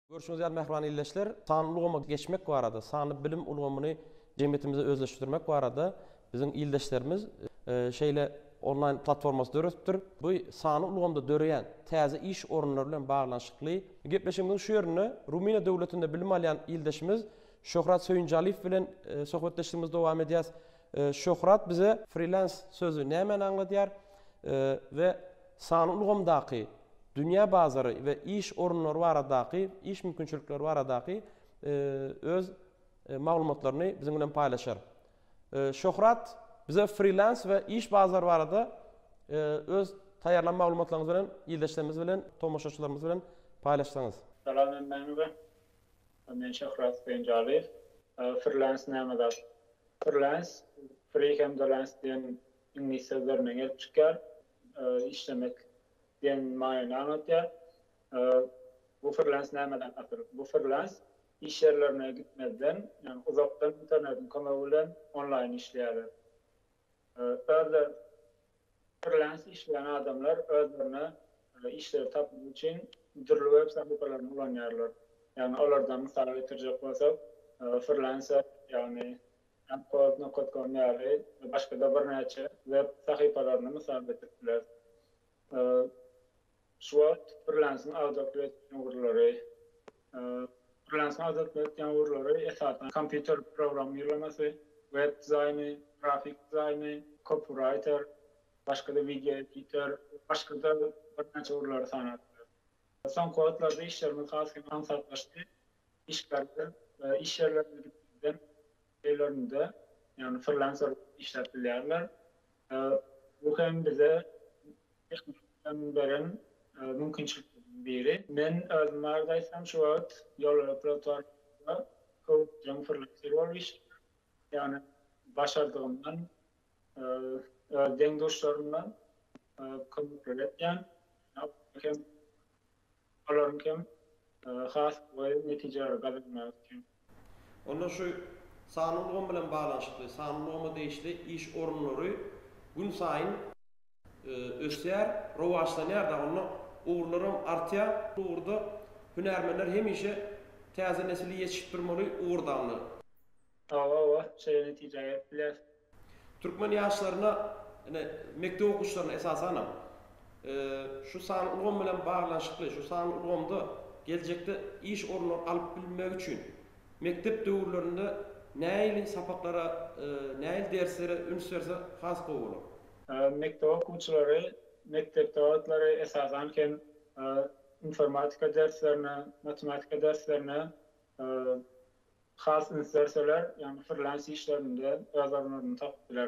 Görşüňiz ýaly mähriban ildeşler, sanly ulgama geçmek barada, sanly bilim ulgamyny jemgyýetimizde özleşdirmek barada biziň ildeşlerimiz şeýle onlaýn platformasy döretipdir. Bu sanly ulgamda döreýän täze iş orunlary bilen baglanyşykly. Gepleşigimiziň şu ýerinde Rumyniýa döwletinde bilim alýan ildeşimiz Şöhrat Söýünjaliýew bilen söhbetdeşligimizi dowam edýäs. Şöhrat bize frilans sözi nämäni aňladýar we sanly ulgamdaky dünýä bazary we iş orunlary baradaky, iş mümkinçilikleri baradaky öz maglumatlaryny biziň bilen paýlaşar. Şöhrat bize frilans we iş bazary barada öz taýýarlan maglumatlaryňyzy bilen ildeşlerimiz bilen, tomaşaçylarymyz bilen paýlaşsaňyz. Salam hemmäňize. Men Şöhrat Penjalyýew. Frilans näme zat? Freelance, free hem de lance diýen iňlis sözlerinden gelip çykýar. Işlemek diýen manyny aňlatýar. Bu freelance nämedir asyl? Bu freelance iş ýerlerine gitmezden, ýagny uzakdan internetiň kömegi bilen onlaýyn işleýärler. Özler Freelance işleýän adamlar özlerine işleri tapmak üçin dürli web sahypalaryny ulanýarlar. Ýagny olardan mysal getirjek bolsak, Freelancer, ýagny Upwork nokot com ýaly we başga-da birnäçe web sahypalaryny mysal getirip bileris. Şu wagt frilansiň azatlyk etýän ugurlary. Frilansiň azatlyk etýän ugurlary, esasan, kompýuter programmirlemasy, web dizaýny, grafik dizaýny, kopyraýter, başga-da wideo editer, başga-da birnäçe ugurlary sanap bileris. Soňky wagtlarda işlerimiz has hem aňsatlaşdy. Işgärler iş ýerlerine gitmezden, öýlerinde, ýagny frilanser bolup işläp bilýärler. Bu hem bize hem beren mümkinçilikleriň biri. Men özüm barada aýtsam, şu wagt ýolöpletornamada kouçjyň frilenseri bolup işleýän. Ýagny başardygymdan öz deň-duşlarymdan kömekleri etýän. Olaryň hem has gowy netijeleri gazanmagy üçin. Onda şu sanly ulgam bilen baglanyşykly sanly ulgama degişli iş orunlary günsaýyn ösýär, rowaçlanýar-da, onda ugurlaram artýar. Bu ugurda hünärmenler hemişe täze nesli ýetişipdirmeli ugurdandyr. Hawa, hawa, şeýle netijä gelip bileris. Türkmen ýaşlaryna, ine, mekdep okuwçylaryna esasanam, şu sanly ulgam bilen baglanyşykly, şu sanly ulgamda geljekde iş orunlary alyp bilmegi üçin mekdep döwürlerinde näili sapaklara, näili derslere üns berse has gowy bolar. Mekdep okuwçylary mekdepde wagtlary esasan hem informatika derslerine, matematika derslerine Has üns berseler, ýagny frilans işlerinde öz orunlaryny tapyp bilerler.